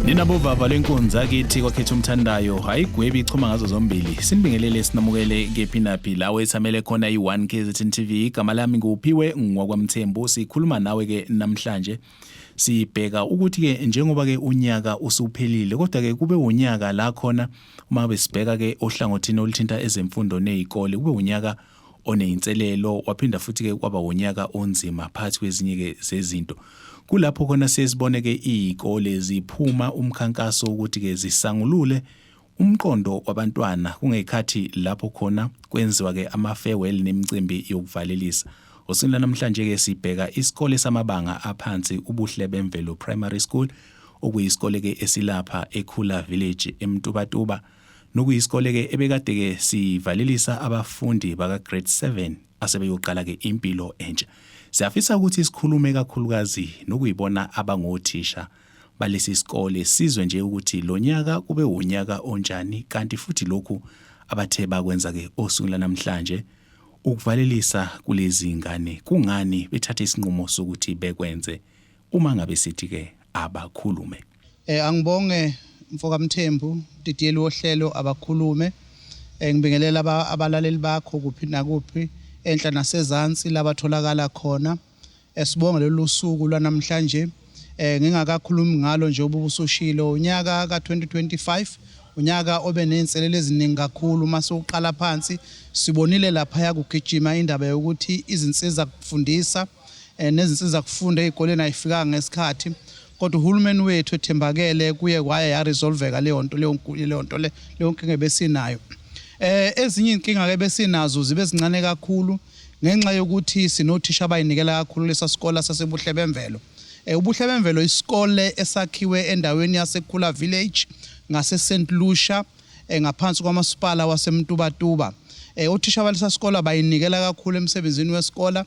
ninabovava lenkunzi akithi kwakhetha umthandayo hayi gwebi ichoma ngazo zombili sinibingelele sinamukele kephi naphi lawo ethamele khona i-1 kzn tv igama lami nguphiwe ngwakwamthembu sikhuluma nawe-ke namhlanje sibheka ukuthi ke njengoba ke unyaka usuphelile kodwa ke kube unyaka la khona uma besibheka ke ohlangothini oluthinta ezemfundo nezikole kube unyaka oneyinselelo waphinda futhi ke kwaba unyaka onzima phakathi kwezinye ke zezinto kulapho khona sesibone ke izikole ziphuma umkhankaso ukuthi ke zisangulule Umqondo wabantwana kungekhathi lapho khona kwenziwa-ke ama-farewell nemicimbi yokuvalelisa. Osini lanamhlanje-ke sibheka isikole samabanga aphansi uBuhle Bemvelo Primary School okuyisikole-ke esilapha eKhula Village eMtubatuba nokuyisikole-ke ebekade-ke sivalelisa abafundi baka-grade 7 asebeyoqala-ke impilo entsha. Siyafisa ukuthi sikhulume kakhulukazi nokuyibona abangothisha balesi sikole sizwe nje ukuthi lo nyaka kube wunyaka onjani kanti futhi lokhu abathe bakwenza-ke osuku lanamhlanje ukuvalelisa kulezi ngane kungani bethathe isinqumo sokuthi bekwenze uma ngabe sithi-ke abakhulume um angibonge mfokamthembu didiyeli wohlelo abakhulume um ngibingelela abalaleli bakho kuphi nakuphi enhla nasezansi labatholakala khona Eh, sibonge lolu suku lwanamhlanje eh, ngingakakhulumi ngalo nje ubusushilo unyaka ka-2025 unyaka obe nezinselelo eziningi kakhulu uma siwuqala phansi sibonile laphaya kugijima indaba yokuthi izinsiza kufundisa eh, nezinsiza kufunda ey'koleni ayifikanga ngesikhathi kodwa uhulumeni wethu ethembakele kuye kwaye yaresolveka leyo nto leyo nto leyo nkinga ebesinayo um ezinye iy'nkinga-ke besinazo zibe zincane kakhulu Ngenxa yokuthi sinothisha abayinikela kakhulu lesa sikole saseBuhle Bemvelo. Eh, uBuhle Bemvelo isikole esakhiwe endaweni yaseKhula Village ngaseSt Lucia eh, ngaphansi kwamasipala waseMtubatuba. Eh, othisha balesa sikole abayinikela kakhulu emsebenzini wesikole.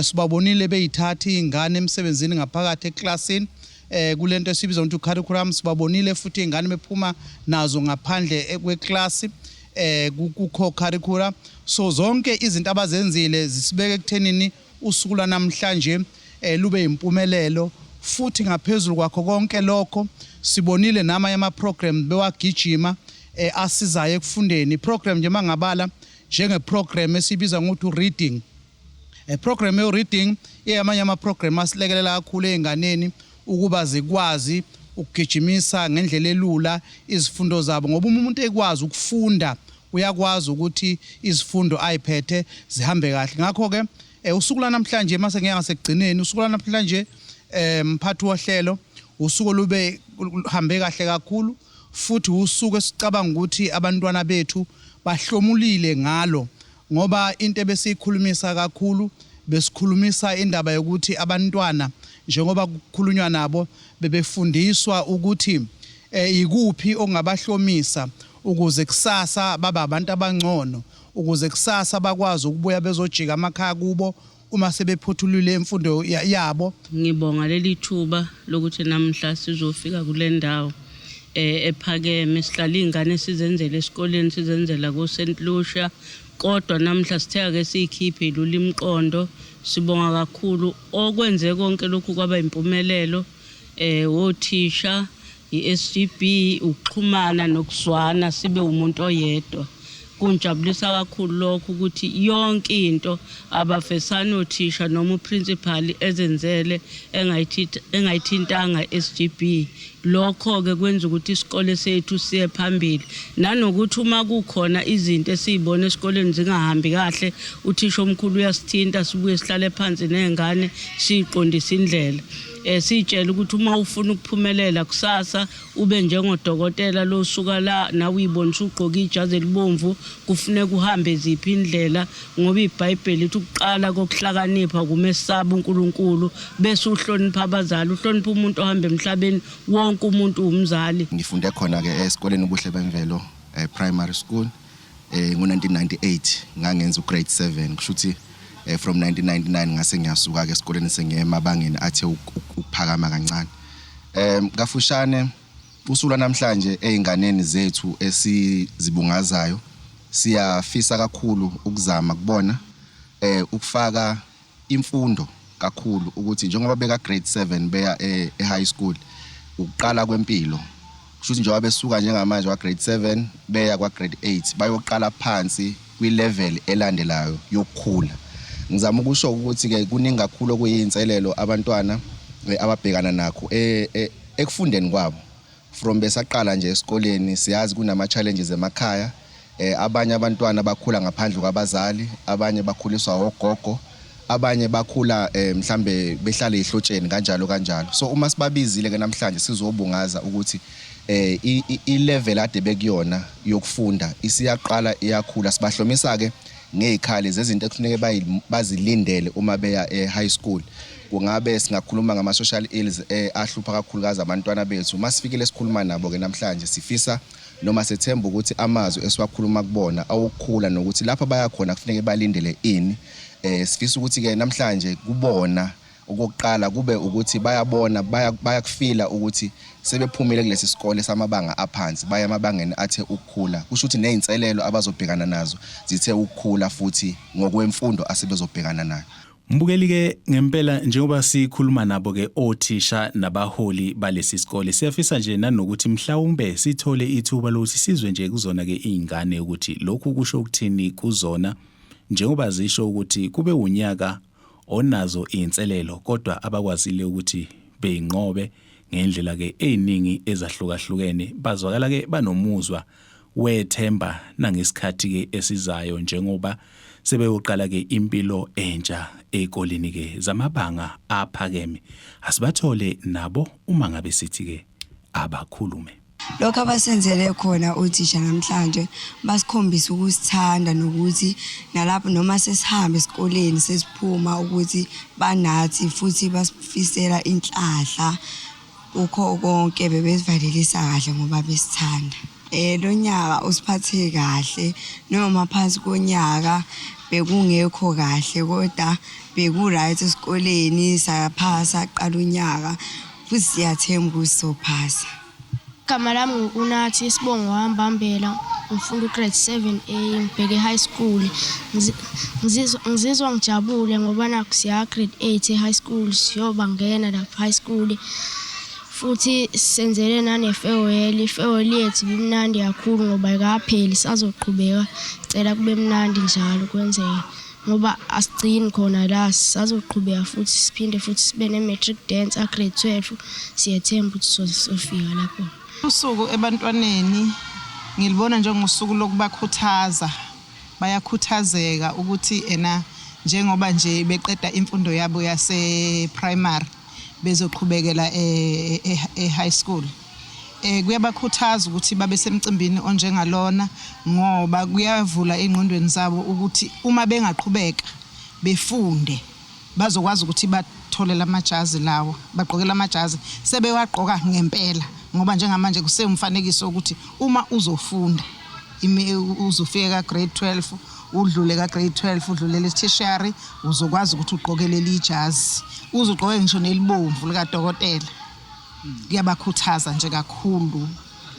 Sibabonile beyithatha izingane emsebenzini ngaphakathi eklasini eh kulento esibiza ukuthi curriculum sibabonile futhi izingane bephuma nazo ngaphandle kweklasi eh kukho curricula so zonke izinto abazenzile zisibeke ekuthenini usuku lwanamhlanje eh lube impumelelo futhi ngaphezulu kwakho konke lokho sibonile nama yama program bewagijima eh asizayo ekufundeni program nje mangabala njenge program esibiza ngokuthi reading E program yo reading eyamanye ama program asilekelela kakhulu einganeni ukuba zikwazi ukugijimisa ngendlela elula izifundo zabo ngoba uma umuntu ekwazi ukufunda uyakwazi ukuthi izifundo ayiphethe zihambe kahle ngakho ke eh, usuku lanamhlanje mase ngeke ngasekugcineni usuku lanamhlanje eh mphathi wohlelo usuku lube hambe kahle kakhulu futhi wusuku esicabanga ukuthi abantwana bethu bahlomulile ngalo ngoba into ebesiyikhulumisa kakhulu besikhulumisa indaba yokuthi abantwana njengoba kukhulunywa nabo bebefundiswa ukuthi eh, yikuphi okungabahlomisa ukuze kusasa babe abantu abangcono ukuze kusasa bakwazi ukubuya bezojika amakhaya kubo uma sebephothulile imfundo yabo. Ngibonga leli thuba lokuthi namhla sizofika kule ndawo eh, ephakeme sihlala iy'ngane sizenzela esikoleni sizenzela ko-st lucia kodwa namhla sithe-ke siyikhiphe ilula imiqondo sibonga kakhulu okwenze konke lokhu kwaba impumelelo eh wothisha iSGB ukuxhumana nokuzwana sibe umuntu oyedwa kunjabulisa kakhulu lokho ukuthi yonke into abafesana othisha noma uprincipal ezenzele engayithintanga SGB lokho ke kwenza ukuthi isikole sethu siye phambili nanokuthi uma kukhona izinto esizibona esikoleni zingahambi kahle uthisha omkhulu uyasithinta sibuye sihlale phansi nezingane siqondisa indlela eh sitshela ukuthi uma ufuna ukuphumelela kusasa ube njengodokotela losuka la nawe uyibonisa ugqoka ijazi elibomvu kufuneka uhambe ziphi indlela ngoba iBhayibheli lithi ukuqala kokuhlakanipha kumesaba uNkulunkulu bese uhlonipha abazali uhlonipha umuntu ohamba emhlabeni wonke umuntu umzali ngifunde khona ke esikoleni ubuhle bemvelo eh, primary school eh ngo1998 ngangenza ugrade 7 kusho ukuthi eh, from 1999 ngase ngiyasuka ke esikoleni sengiye emabangeni athe uk- uk- ukuphakama kancane em kafushane usula namhlanje einganeni zethu esizibungazayo siyafisa kakhulu ukuzama kubona eh ukufaka imfundo kakhulu ukuthi njengoba beka grade 7 beya e, e high school ukuqala kwempilo kushuthi njengoba besuka njengamanje wa grade 7 beya kwa grade 8 bayoqala phansi kwi level elandelayo yokukhula ngizama ukusho ukuthi ke kuningi kakhulu okuyinselelo abantwana eh, ababhekana nakho eh, eh, ekufundeni kwabo From besaqala nje esikoleni siyazi kunama challenges emakhaya. Eh abanye abantwana bakhula ngaphandle kwabazali, abanye bakhuliswa ogogo, abanye bakhula eh mhlambe behlale ihlotsheni kanjalo kanjalo. So uma sibabizile ke namhlanje sizobungaza ukuthi eh ilevel ade bekuyona yokufunda isiyaqala iyakhula sibahlomisa ke ngezikhali zezinto ekufuneka bazilindele uma beya e high school kungabe singakhuluma ngama-social ills eh, ahlupha kakhulukazi abantwana bethu uma sifikile sikhuluma nabo-ke namhlanje sifisa noma sethemba ukuthi amazwi esiwakhuluma kubona awokukhula nokuthi lapho bayakhona kufuneke balindele ini um sifisa ukuthi-ke namhlanje kubona okokuqala kube ukuthi bayabona bayakufila ukuthi sebephumile kulesi sikole samabanga aphansi baya emabangeni athe ukukhula kusho ukuthi nezinselelo abazobhekana nazo zithe ukukhula futhi ngokwemfundo asebezobhekana nayo Mbukeli ke ngempela njengoba sikhuluma nabo ke othisha nabaholi balesi sikole siyafisa nje nanokuthi mhlawumbe sithole ithuba lokuthi sizwe nje kuzona ke izingane ukuthi lokhu kusho ukuthini kuzona njengoba zisho ukuthi kube unyaka onazo izinselelo kodwa abakwazile ukuthi beyinqobe ngendlela ke eziningi ezahlukahlukene bazwakala ke banomuzwa wethemba nangesikhathi ke esizayo njengoba sebeyoqala ke impilo entsha ezikoleni ke zamabanga aphakeme asibathole nabo uma ngabe sithi ke abakhulume lokho abasenzele khona othisha namhlanje basikhombisa ukusithanda nokuthi nalapho noma sesihambe esikoleni sesiphuma ukuthi banathi futhi basifisela inhlahla Kukho konke bebesivalelisa kahle ngoba besithanda. Eh lo nyaka usiphathe kahle noma phansi konyaka bekungekho kahle kodwa beku-right esikoleni saphasa qala unyaka futhi siyathemba ukuthi sophasa. Igama lami nguNathi isibongo hamba hambela ngifunda ugrade 7 a ngibheke high school ngizizwa ngijabule ngoba nakho siya grade 8 e-high school siyoba ngena lapho high school futhi senzele nane-farewell i-farewell yethu ibimnandi kakhulu ngoba ikapheli sazoqhubeka cela kube mnandi njalo kwenzeke ngoba asigcini khona la sazoqhubeka futhi siphinde futhi sibe ne-matric dance a-grade 12 siyethemba ukuthi sozofika lapho usuku ebantwaneni ngilibona njengosuku lokubakhuthaza bayakhuthazeka ukuthi ena njengoba nje beqeda imfundo yabo yase-primary bezoqhubekela e-high e-, e-, school Eh, kuyabakhuthaza ukuthi babe semcimbini onjengalona ngoba kuyavula ey'ngqondweni zabo ukuthi uma bengaqhubeka befunde bazokwazi ukuthi bathole la majazi lawo bagqoke la majazi sebewagqoka ngempela ngoba njengamanje kusewumfanekiso wokuthi uma uzofunda uzofike ka-grade 12 udlule ka-grade 12 udlulele tertiary uzokwazi ukuthi ugqoke leli jazi uzugqoke ngisho nelibomvu likadokotela kuyabakhuthaza nje kakhulu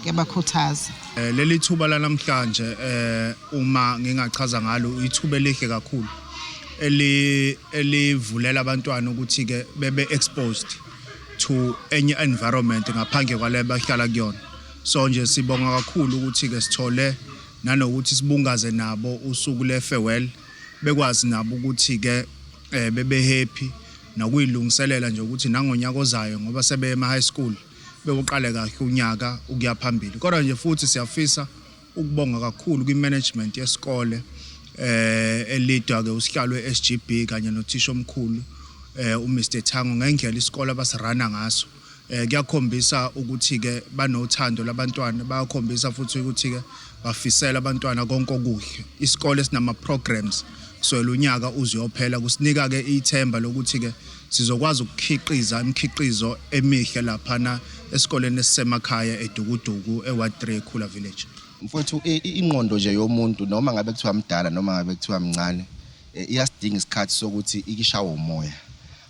kuyabakhuthaza eh, leli thuba lanamhlanje eh, uma ngingachaza ngalo ithuba elihle kakhulu eli elivulela abantwana ukuthi ke bebe exposed to any environment ngaphandle kwale bahlala kuyona so nje sibonga kakhulu ukuthi ke sithole nanokuthi sibungaze nabo usuku le farewell bekwazi nabo ukuthi ke eh bebe happy nokuyilungiselela nje ukuthi nangonyaka ozayo ngoba sebeye ema high school bewuqale kahle unyaka ukuya phambili kodwa nje futhi siyafisa ukubonga kakhulu kwi management yesikole eh elidwa ke usihlalo eSGB kanye nothisha omkhulu eh uMr Thango ngendlela isikole abasirana ngaso eh kuyakhombisa ukuthi ke banothando labantwana bayakhombisa futhi ukuthi ke bafisela abantwana konke okuhle isikole sinama programs so lunyaka uzoyophela kusinika ke ithemba lokuthi ke sizokwazi ukukhiqiza imikhiqizo emihle lapha na esikoleni esisemakhaya edukuduku eWard 3 Khula Village mfowethu ingqondo nje yomuntu noma ngabe kuthiwa mdala noma ngabe kuthiwa mncane eh, iyasidinga isikhathi sokuthi ikishawe umoya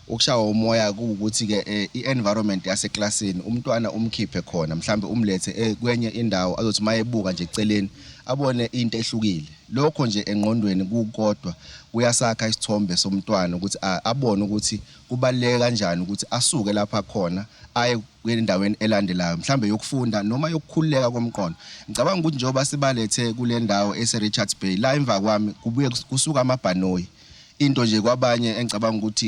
ukushawa umoya kuwukuthi ke eh, i-environment yaseklasini umntwana umkhiphe khona mhlambe umlethe eh, kwenye indawo azothi mayebuka nje eceleni abone into ehlukile lokho nje engqondweni kukodwa kuyasakha isithombe somntwana ukuthi abone ukuthi kubaleke kanjani ukuthi asuke lapha khona aye kwendaweni elandelayo mhlambe yokufunda noma yokukhululeka komqondo ngicabanga ukuthi njengoba sibalethe kule ndawo ese-richards bay la emva kwami kubuye kusuka amabhanoyi into nje kwabanye engicabanga ukuthi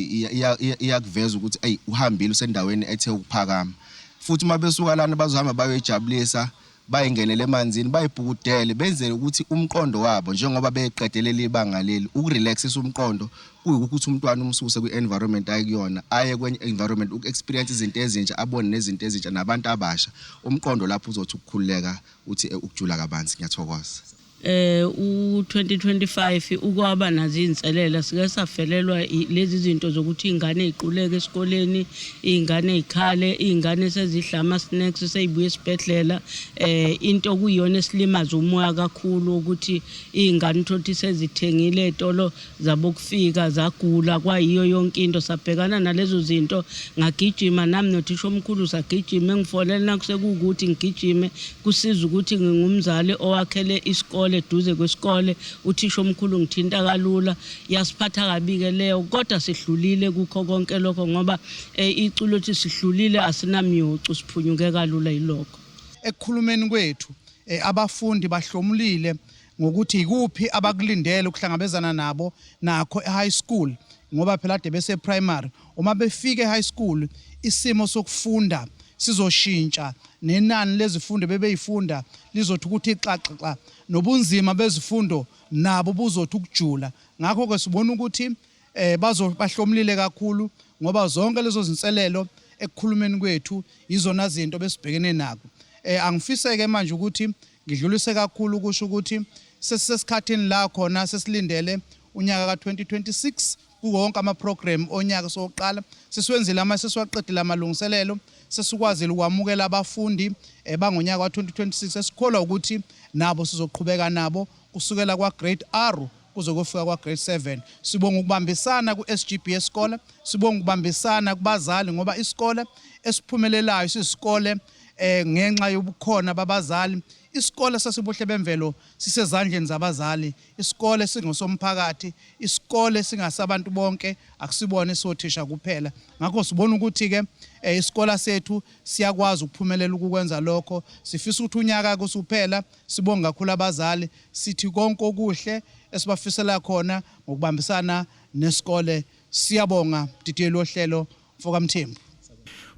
iyakuveza ukuthi eyi uhambile usendaweni ethe ukuphakama futhi uma besuka lana bazohamba bayoyijabulisa bayingenele emanzini bayibhukudele benzele ukuthi umqondo wabo njengoba beqedelele ibanga leli ukurelaxisa umqondo kuyikuthi umntwana umsuse kwi-environment ayikuyona aye kwenye environment uku-experience izinto ezintsha abone nezinto ezintsha nabantu abasha umqondo lapho uzothi ukukhululeka uthi eh, ukujula kabanzi ngiyathokoza eh u2025 ukwaba nazo izinselela sike safelelwa lezi zinto zokuthi ingane iquleke esikoleni ingane ikhale ingane sezidlama snacks seyibuye esibhedlela eh into kuyona esilimaza umoya kakhulu ukuthi ingane uthothi sezithengile etolo zabokufika zagula kwayiyo yonke into sabhekana nalezo zinto ngagijima nami nothisha omkhulu sagijima engifonele nakusekuwukuthi ngigijime kusiza ukuthi ngingumzali owakhele isikole eduze kwesikole uthisha omkhulu ngithinta kalula yasiphatha kabi-ke leyo kodwa sihlulile kukho konke lokho ngoba um iculo ukuthi sihlulile asinamyocu siphunyuke kalula yilokho ekukhulumeni kwethu um abafundi bahlomulile ngokuthi yikuphi abakulindele ukuhlangabezana nabo nakho e-high school ngoba phela ade bese-primary uma befika e-high school isimo sokufunda sizoshintsha nenani lezifundo bebeyifunda lizothi ukuthi xaxaxa nobunzima bezifundo nabo buzothi ukujula ngakho-ke sibona ukuthi eh bazo bahlomlile kakhulu ngoba zonke lezo zinselelo ekukhulumeni kwethu izona zinto besibhekene nako eh angifiseke manje ukuthi ngidlulise kakhulu kusho ukuthi sesisesikhathini la khona sesilindele unyaka ka-2026 kuwonke amaprogram onyaka sokuqala sisiwenzile ama sesiwaqedile amalungiselelo sesikwazile ukwamukela abafundi eh, bangonyaka wa-2026 esikholwa ukuthi nabo sizoqhubeka nabo kusukela kwa-grade r kuze kofika kwa grade 7 sibonga ukubambisana ku SGB esikole sibonga ukubambisana kubazali ngoba isikole esiphumelelayo sisikole eh ngenxa yobukhona babazali isikole sasibuhle bemvelo sisezandleni zabazali isikole singosomphakathi isikole singasabantu bonke akusibona isothisha kuphela ngakho sibona ukuthi ke eh, isikole sethu siyakwazi ukuphumelela ukukwenza lokho sifisa ukuthi unyaka kusuphela Sibonge kakhulu abazali sithi konke okuhle esibafisela khona ngokubambisana nesikole siyabonga mdidiyeli wohlelo mfokamthembu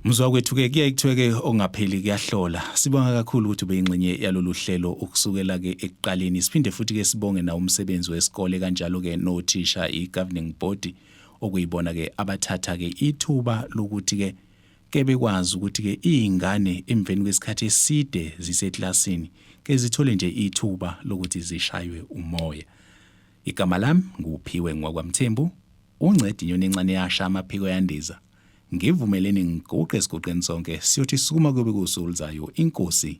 Mzwa kwethu ke kuyaye kuthiwe ke ongapheli kuyahlola. Sibonga kakhulu ukuthi ubeyingxenye yalolu hlelo ukusukela ke ekuqaleni. Siphinde futhi ke sibonge na umsebenzi wesikole kanjalo ke nothisha igoverning body okuyibona ke abathatha ke ithuba lokuthi ke ke bekwazi ukuthi ke izingane emveni kwesikhathi eside ziseklasini ke zithole nje ithuba lokuthi zishaywe umoya igama lami nguphiwe ngwakwamthembu uncedi inyoni encane yasha amaphiko yandiza ngivumeleni ngiguqe esiguqeni sonke siyothi sukuma kube kusulizayo inkosi